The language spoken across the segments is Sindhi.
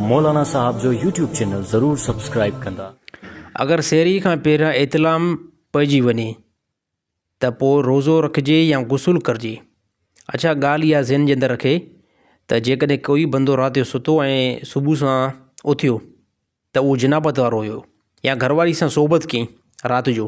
مولانا صاحب جو يوٽيوب چينل ضرور سبسڪرائيب ڪندا. اگر سحري کان پهريان احتلام پئجي وڃي ته پوء روزو رکجي يا غسل ڪرجي؟ اڇا ڳالهه اها ذهن جي اندر رکي ته جيڪڏهن ڪوئي بندو رات جو ستو ۽ صبح سان اٿيو ته اهو جنابت وارو هيو يا گهر واري سان صحبت ڪئي رات جو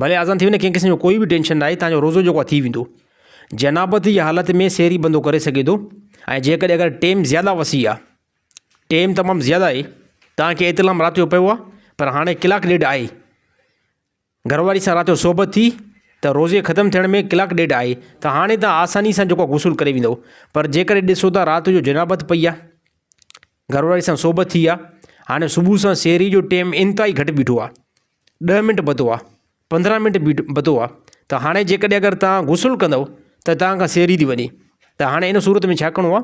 ڀلي آذان ٿي وڃي ڪنهن قسم جو ڪوئي به ٽينشن ناهي تنهن جو روزو جيڪو آهي ٿي ويندو جنابت جي حالت ۾ سحري بندو ڪري سگهي ٿو ۽ جيڪڏهن اگر ٽيم زياده وسيع آهي ٽيم تمام زياده آهي تنهن کي احتلام رات جو پيو آهي پر هاڻي ڪلاڪ ڏيڍ آهي گهر واري سان رات جو صحبت ٿي ته روزي ختم ٿيڻ ۾ ڪلاڪ ڏيڍ آهي ته هاڻي تان آساني سان جيڪو غسل ڪري ويندو پر جيڪڏهن ڏسو ته رات جو جنابت پئي آهي گهر واري سان صحبت ٿي آهي هاڻي صبح سان سحري جو ٽيم انتهائي گهٽ بيٺو آهي ڏهه منٽ ٻڌو آ پندرهن منٽ بيٺ ٻڌو آ ته هاڻي جيڪڏهن اگر تان غسل ڪندؤ ته تان کان سيري ٿي وڃي ته هاڻي ان صورت ۾ ڇا ڪرڻو آ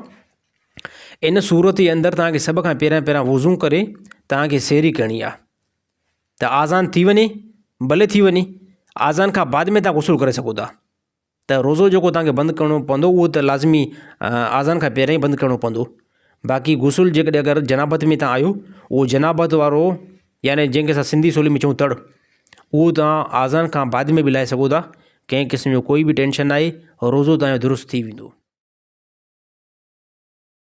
ان صورت جي اندر تان کي سڀ کان پهريان پهريان وضو ڪري تان کي سيري ڪرڻي آ ته آزان ٿي وڃي ڀلي ٿي وڃي آزان کان بعد ۾ تان غسل ڪري سگهو ٿا ته روزو جيڪو توهان کي بند ڪرڻو پوندو اهو ته لازمي آذان کان پهريان ئي بند ڪرڻو پوندو باقي غسل جيڪڏهن اگر جنابت ۾ توهان آهيو اهو جنابت وارو يعني جنهن کي اسان سنڌي ٻولي ۾ چئون تڙ اهو توهان آذان کان بعد ۾ به لائي سگهو ٿا ڪنهن قسم جو ڪوئي به ٽينشن ناهي روزو توهان جو درست ٿي ويندو